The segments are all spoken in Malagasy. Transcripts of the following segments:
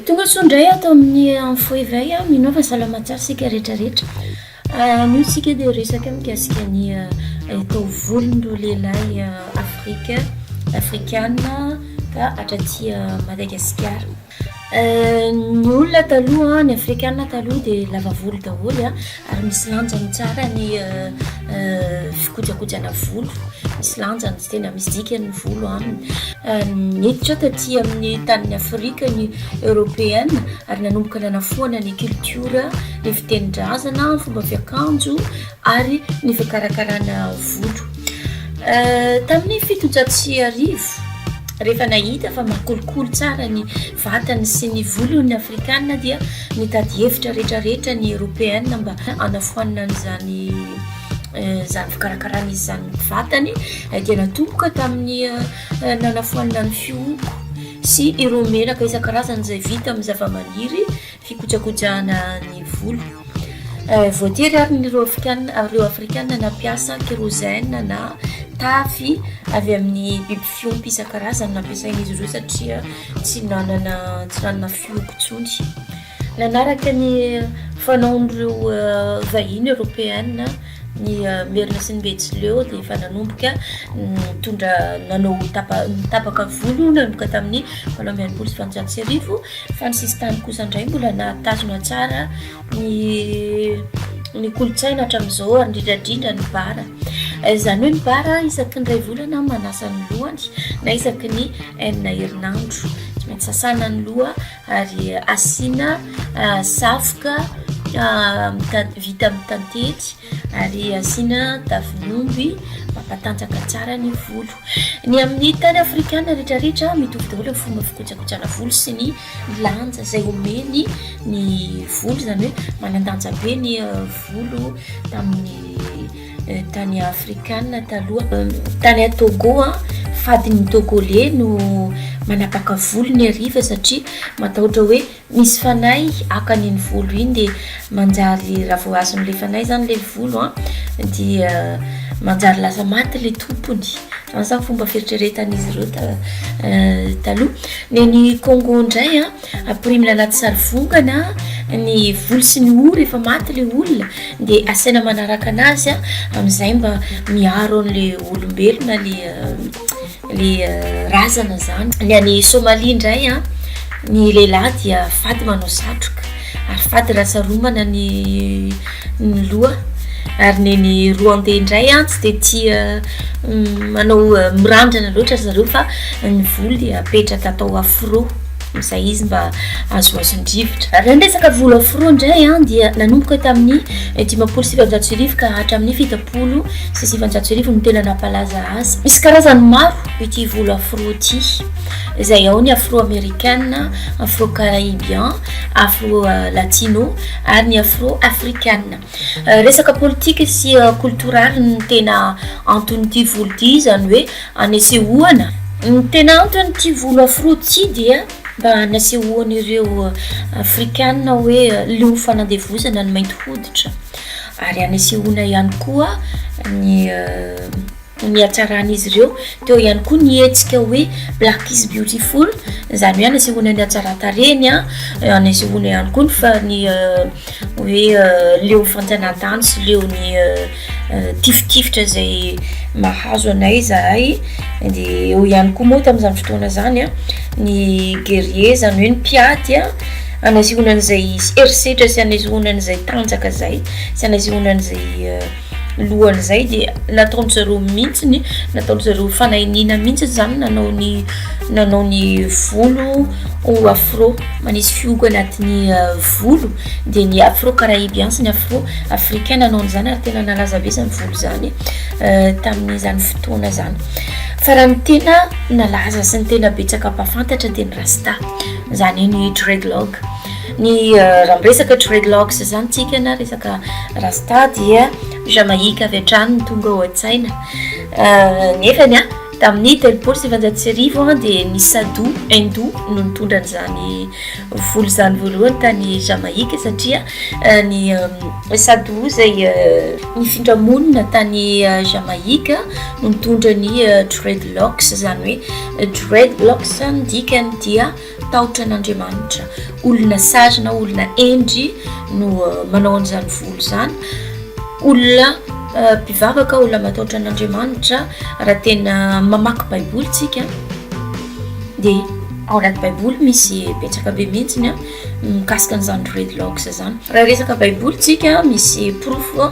Tonga soa indray ato amin'ny info éveil. Mino fa salama tsara isika rehetra rehetra. Anio isika dia resaka mikasika ny taovolon'ireo lehilahy Afrika, Afrikana ka hatraty Madagasikara. Ny olona taloha, ny Afrikana taloha dia lava volo daholo. Ary misy lanjany tsara ny fikojakojana volo, misy lanjany, tsy tena misy dikany ny volo aminy. Niditra taty amin'ny tanin'i Afrika ny Eoropeana ary nanomboka nanafoana ny kiltiora, ny fitenin-drazana, ny fomba fiakanjo ary ny fikarakarana volo. Tamin'ny fitonjato sy arivo, rehefa nahita fa mahakolikoly tsara ny vatany sy ny volony afrikana dia mitady hevitra rehetra rehetra ny eropeana mba hanafoanana an'izany izany fikarakarana izy izany ny vatany dia natomboka tamin'ny nanafoanana ny fihoko sy ireo menaka isan-karazany izay vita amin'ny zavamaniry fikojakojahana ny volo voatery ary ny ireo afrikana ireo afrikana nampiasa kérosène na tavy avy amin'ny biby Fiompy isan-karazany nampiasain'izy ireo satria tsy nanana tsy nanana fiompy intsony. Nanaraka ny fanaon'ireo vahiny eoropeana ny Merina sy ny Betsileo dia efa nanomboka nitondra nanao tapa tapaka volo nanomboka tamin'ny valo amby enimpolo sy valonjato sy arivo fa ny sisintany kosa indray mbola nahatazona tsara ny ny kolontsaina hatramin'izao ary indrindradrindra ny bara eh, izany hoe ny bara isaky ny ray volana manasa ny lohany na isaky ny enina herinandro tsy maintsy sasana ny loha ary asiana eh, safoka eh, vita amin'ny tantely ary asiana tavim'omby mampatanjaka tsara ny volo. Ny amin'ny tany afrikana rehetrarehetra mitovy daholo ny fomba fikojakotsana volo sy ny lanja izay omeny ny volo, izany hoe manandanja be ny euh, volo tamin'ny euh, tany afrikana taloha. Euh, tany Togo a, fadin'ny Togolais no manapaka volony hariva satria matahotra hoe Misy fanahy akany iny volo iny dia manjary raha vao azon'ilay fanahy izany ilay volo a dia manjary lasa maty ilay tompony. Izany izany fomba fieritreretan'izy ireo ta- taloha. Ny any Congo indray a, ampirimina anaty sarivongana ny volo sy ny hoho rehefa maty ilay olona dia asaina manaraka anazy a, amin'izay mba miaro an'ilay olombelona ilay le razana zany ny any somalia indray a ny lehilahy dia fady manao satroka ary fady raha saromana ny ny loha ary ny ny roande indray a tsy de tia manao mirandrana loatra ry zareo fa ny volo dia apetraka atao afro izay izy mba azoazon-drivotra. Raha ny resaka vola foroa indray dia nanomboka tamin'ny dimampolo sy sivinjato sy arivo ka hatramin'ny fitopolo sy sivinjato sy arivo no tena nampalaza azy. Misy karazany maro ity vola foroa ity izay ao ny afro-amerikana, afro-caraibian, afro-latino ary ny afro-afrikana. Resaka politika sy koltoraly no tena anton'ity vola ity izany hoe. Anesehoana, Ny tena anton'ity volo afro ity dia mba hanesehoan'ireo Afrikana hoe leo fanandevozana ny mainty hoditra ary hanesehoana ihany koa ny ny hatsaran'izy ireo. Teo ihany koa ny hetsika hoe Black is beautiful, izany hoe hanesehoana ny hatsaran-tarehiny, hanesehoana ihany koa ny fa- ny hoe leo fanjanahantany sy leo ny tifitifitra izay mahazo anay zahay de eo ihany koa moa tamin'izany fotoana zany a ny gerie zany hoe ny mpiady a anazehoana an'izay herisetra sy anazehoana an'izay tanjaka zay sy anazehoana an'izay lohan'izay dia nataon-dry zareo mihitsy ny nataon-dry zareo fanahiniana mihitsy izany nanao ny nanao ny volo ho afro manisy fihogo anatin'ny euh, volo dia ny afro caraibian sy ny afro africain nanao an'izany ary tena nalaza be izany volo izany euh, tamin'izany fotoana izany fa raha ny tena nalaza sy ny tena betsaka mpafantatra dia ny rasta izany hoe ny dreadlock Ny raha miresaka dreadlocks zany tsika na resaka rasta dia Jamaïque avy hatrany no tonga ao an-tsaina nefany a tamin'ny telopolo sy sivanjato sy arivo a dia ny Sadou Hindou no nitondra an'izany volo zany voalohany tany Jamaïque satria ny Sadou izay nifindra monina tany Jamaïque no nitondra ny dreadlocks zany hoe dreadlocks ny dikany dia Tahotra an'Andriamanitra. Olona sazy na olona hendry no manao an'izany volo izany. Olona mpivavaka, olona matahotra an'Andriamanitra, raha tena mamaky Baiboly tsika, dia ao anaty Baiboly misy betsaka be mihitsy ny mikasika an'izany dreadlocks izany. Raha resaka Baiboly tsika misy porofo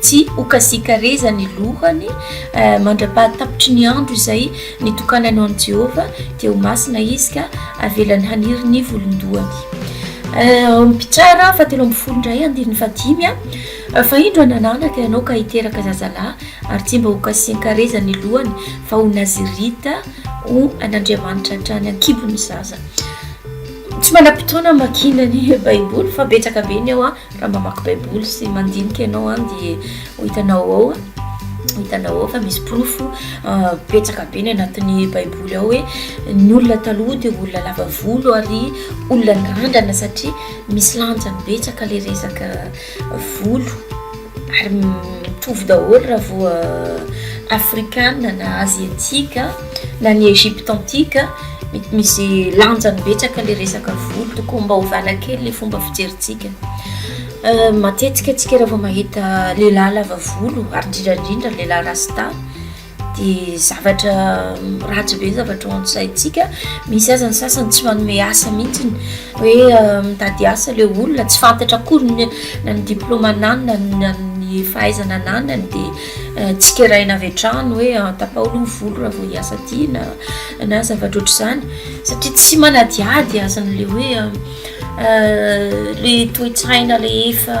Tsy ho kasikareza ny lohany, mandra-pahatapitry ny andro izay nitokanany ho an'i Jehovah, dia ho masina izy ka avelany haniry ny volon-dohany. Ao amin'ny Mpitsara fahatelo ambin'ny folo indray, andininy fahadimy, Fa indro hananaka ianao ka hiteraka zazalahy, ary tsy mba hokasian-kareza ny lohany, fa ho Nazirita ho an'Andriamanitra hatrany an-kibo ny zaza. Tsy manam-potoana hamakiana ny Baiboly fa betsaka be ny ao an! Raha mamaky baiboly sy mandinika ianao an dia ho hitanao ao ho hitanao ao fa misy porofo betsaka be ny anatin'ny baiboly ao hoe ny olona taloha dia olona lava volo ary olona nirandrana satria misy lanjany betsaka le resaka volo ary mitovy daholo raha voa afrikana na aziatika na ny Egypte antique misy lanjany betsaka le resaka volo tokony mba hovana kely le fomba fijerintsika euh, matetika atsika raha vao mahita lehilahy lava volo ary indrindraindrindra lehilahy rasta de zavatra mm, ratsy be zavatra ao ansaintsika misy aza ny sasany tsy manome asa mihitsiny hoe euh, mitady asa le olona tsy fantatra akory na ny diplôma ananina na ny fahaizana ananany de Tsikeraina avy hatrany hoe tapao aloha ny volo raha vao hiasa aty na na zavatra ohatr'izany satria tsy manadihady aza an'ilay hoe ilay toe-tsaina rehefa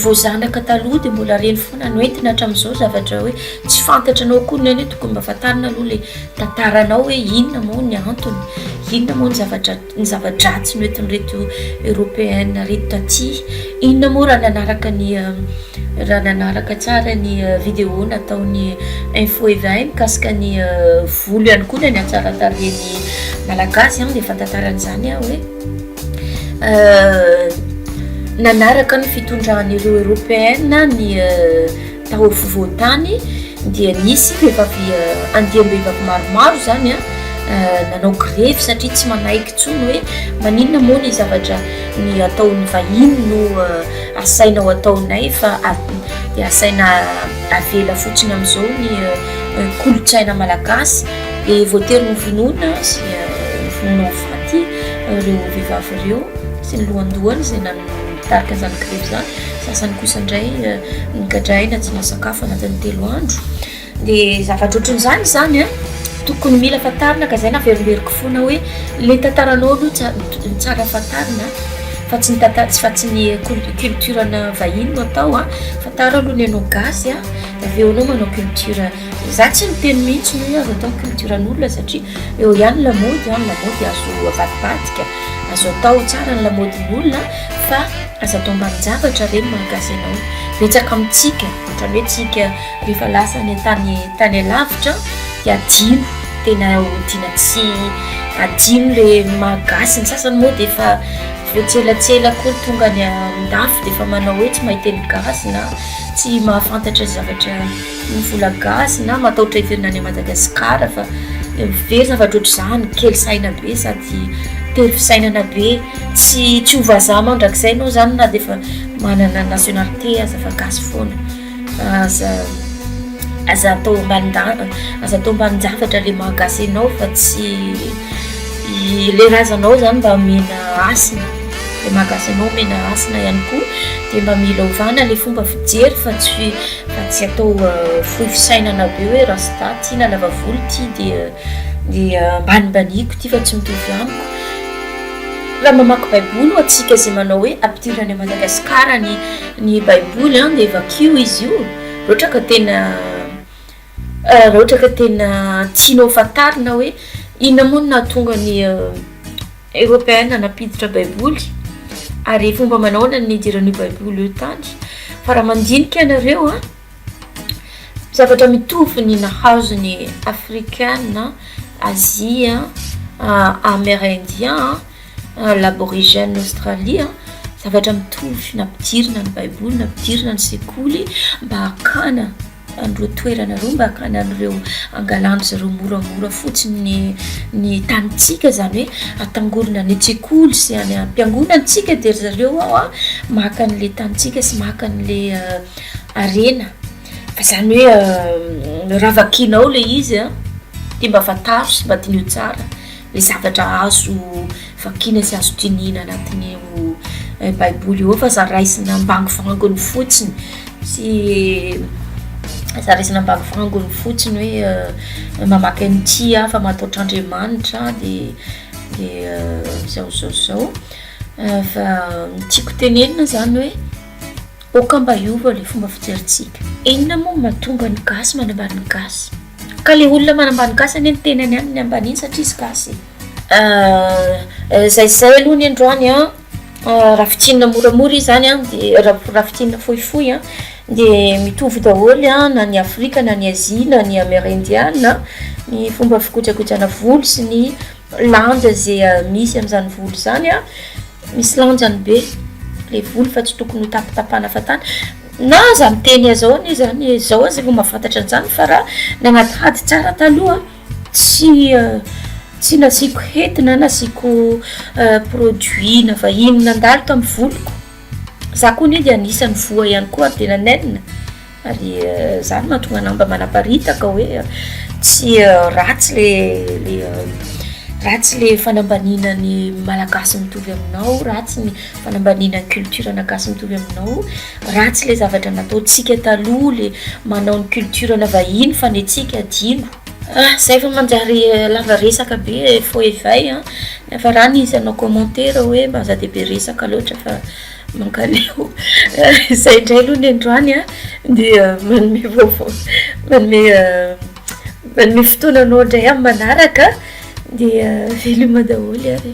vao zanaka taloha dia mbola reny foana no entina hatramin'izao zavatra hoe tsy fantatra anao koa ny hoe tokony mba fantarina aloha ilay tantaranao hoe inona moa ny antony, inona moa ny zavatra. ny zava-dratsy noentin'ireto Européenne ireto taty, inona moa raha nanaraka ny raha nanaraka tsara ny vidéo nataon'ny info éveil mikasika ny volo ihany koa na ny hatsaran-tarehin'ny malagasy an, dia fantantarany izany aho hoe nanaraka ny fitondran'ireo Européenne ny Tao afovoan-tany dia nisy vehivavy andiam-behivavy maromaro izany nanao grevy satria tsy manaiky intsony hoe maninona moa ny zavatra ny ataon'ny vahiny no asaina ho ataonay fa dia asaina avela fotsiny amin'izao ny kolontsaina malagasy dia voatery ny vonoina sy vonoina ho faty ireo vehivavy ireo sy ny lohandohany izay nanao Tarika izany grevy izany, sasany kosa indray nogadraina tsy nahasakafo anatin'ny telo andro. Dia zavatra ohatran'izany izany a, tokony mila fantarina ka izay naverimberiko foana hoe le tantaranao aloha tsa- no tsara fantarina fa tsy ny tanta- tsy fa tsy ny cul- culture-na vahiny no atao a, fantaro aloha ny anao gasy a, dia avy eo anao manao culture. Za tsy miteny mihitsy ny hoe azo atao ny culture an'olona satria eo ihany ny lamaody an, ny lamaody azo avadibadika, azo atao tsara ny lamaodin'ny olona fa aza atao ambanin-javatra ve ny maha gasy anao? Betsaka amintsika ohatran'ny hoe tsika rehefa lasa any an-tany tany alavitra dia adino, tena odiana tsy adino le maha gasy, ny sasany moa dia efa vao tsy elatsela koa ny tonga any an-dafy dia efa manao hoe tsy mahay teny gasy na tsy mahafantatra zavatra. Ny vola gasy na mataotra hiverina any Madagascar fa very zavatra ohatr'izany, kely saina be sady tery fisainana be, tsy tsy ho vazaha mandrakizay enao zany na de efa manana nationalité aza fa gasy foana, aza aza atao ambanin-da- aza atao ambanin-javatra le maha gasy enao fa tsy le razanao zany mba omena hasina, le maha gasy anao omena hasina ihany koa de mba mila ovana le fomba fijery fa tsy. Fa tsy atao fohy fisainana be hoe rasta ty na lava volo ty dia dia ambanimbaniako ty fa tsy mitovy amiko. Raha mamaky baiboly ho antsika izay manao hoe ampidirina any Madagasikara ny ny baiboly an dia vakio izy io raha ohatra ka tena raha ohatra ka tena tianao fantarina hoe inona moa no nahatonga ny Eropeana nampiditra Baiboly, ary fomba manahoana no nidiran'io Baiboly io tany? Fa raha mandinika ianareo a, zavatra mitovy ny nahazo ny Afrikana, Azia, Amerindia, Laborigène Aostralia, zavatra mitovy nampidirina ny Baiboly, nampidirina ny sekoly mba hakana. an'ireo toerana ireo mba hakana an'ireo angalan'dry zareo moramora fotsiny ny ny tanintsika zany hoe atangorona any an-tsekoly sy any am-piangonantsika dia ry zareo ao a maka an'le tanintsika sy maka an'le harena fa zany hoe raha vakinao le izy a dia mba fantaro sy mba diniho tsara Ilay zavatra azo vakiana sy azo dinihina anatin'io Baiboly io ao fa aza raisina ambangovangony fotsiny sy aza raisina ambangovangony fotsiny hoe mamaky an'ity aho fa mataotra Andriamanitra dia dia zao zao zao fa tiako tenenina zany hoe aoka mba hiova ilay fomba fijerintsika. Inona moa no mahatonga ny gasy manambara ny gasy? Ka le olona manambany gasy anie ny tenany any ny ambaniny satria izy gasy e. Ah zay zay aloha ny androany an, ah raha fintinina moramora izy zany an de raha fintinina fohifohy an de mitovy daholo an na ny afrika na ny azia na ny amerindiana ny fomba fikojakojana volo sy ny. lanja ze misy amzany volo zany a misy lanjany be le volo fa tsy tokony ho tapitapahana fatana na aza miteny azao anie zany e zao aza efa mafantatra anzany fa raha nagnaty hady tsara taloha tsy tsy nasiako hety na nasiako produit na vahiny nandalo tamy voloko za koa anie de anisany voa ihany koa ary de nanenina Ary izany mahatonga anao mba manaparitaka hoe tsy ratsy le le ratsy le fanambaniana ny malagasy mitovy aminao, ratsy ny fanambaniana ny culture na gasy mitovy aminao, ratsy le zavatra nataontsika taloha le manao ny culture na vahiny fa ny antsika adino. Ah, zay vao manjary lava resaka be faux éveil an! Niafarany izy hanao commentaire hoe mba aza dia be resaka loatra fa. Mankaleo. Izay indray aloha ny androany a, dia manome vaovao, manome manome fotoana anao indray amin'ny manaraka dia veloma daholo ary.